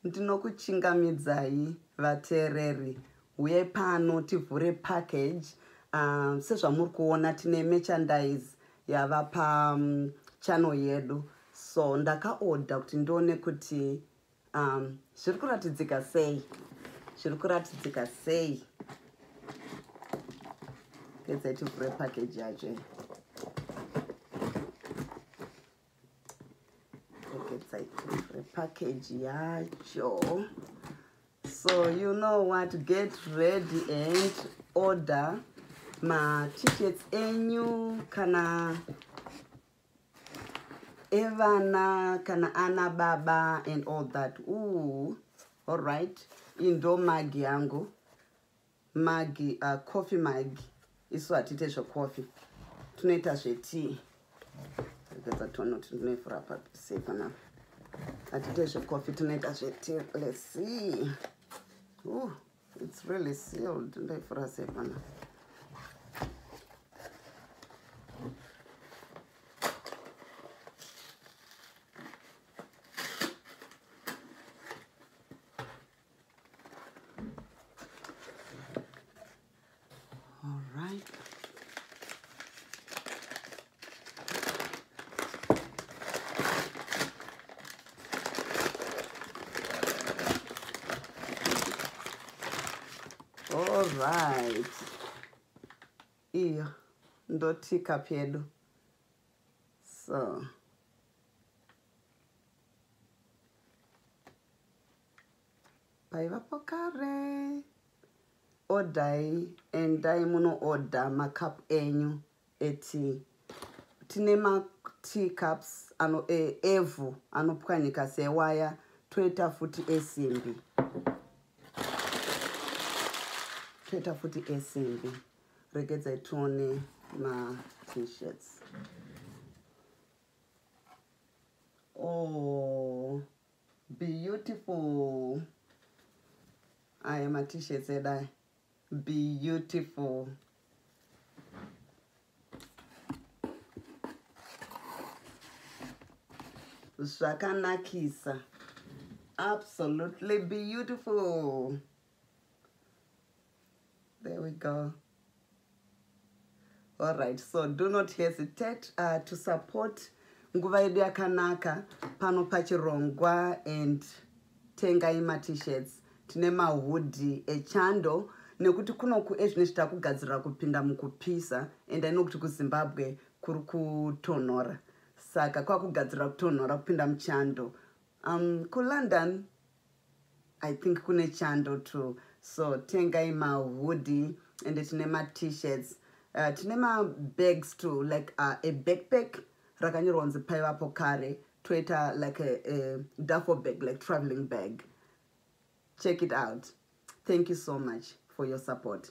ndinokuchingamidzai vateereri huyai pano tivhure package uh, sezvamuri kuona tine merchandise yava pachannel um, yedu so ndakaoda kuti ndione kuti um, zviri kuratidzika sei zviri kuratidzika sei kedzai tivhure package yacho package yacho so you know what get ready and order matickets enyu kana evana kana ana baba and all that ooh all right indo magi yangu magi uh, coffee magi isu hatiite zvecoffee tinoita zvetii regedza tione kuti ndinoivhura pasei panapa hatiite zvecoffee tinoita zvetii let's see Ooh, it's really sealed ndoivhura sei panapa All right. All right. Iyo ndotika pedu. So. paivapo kare odai endai munoodha macup enyu eti tine matea cups ano e, evhu anopwanyika sewaya toita futi esimbi toita futi esimbi regedzai tione matshirt oh. beautiful aya matishirts edu aya beautiful zvakanakisa absolutely beautiful there we go all right so do not hesitate uh, to support nguva yedu yakanaka pano pachirongwa and tengai matishirts tine mahudhi echando nekuti kunoku ezvine zvita kugadzirira kupinda mukupisa and aino kuti kuzimbabwe kuri kutonhora saka kwakugadzirira kutonhora kupinda muchando um, kulondon I think kune chando too. So tengai ma hoodie and tine ma t-shirts. Uh, tine ma bags too like uh, a backpack rakanyorwa kunzi paivapo kare toita like a, a duffel bag like traveling bag. Check it out. Thank you so much for your support.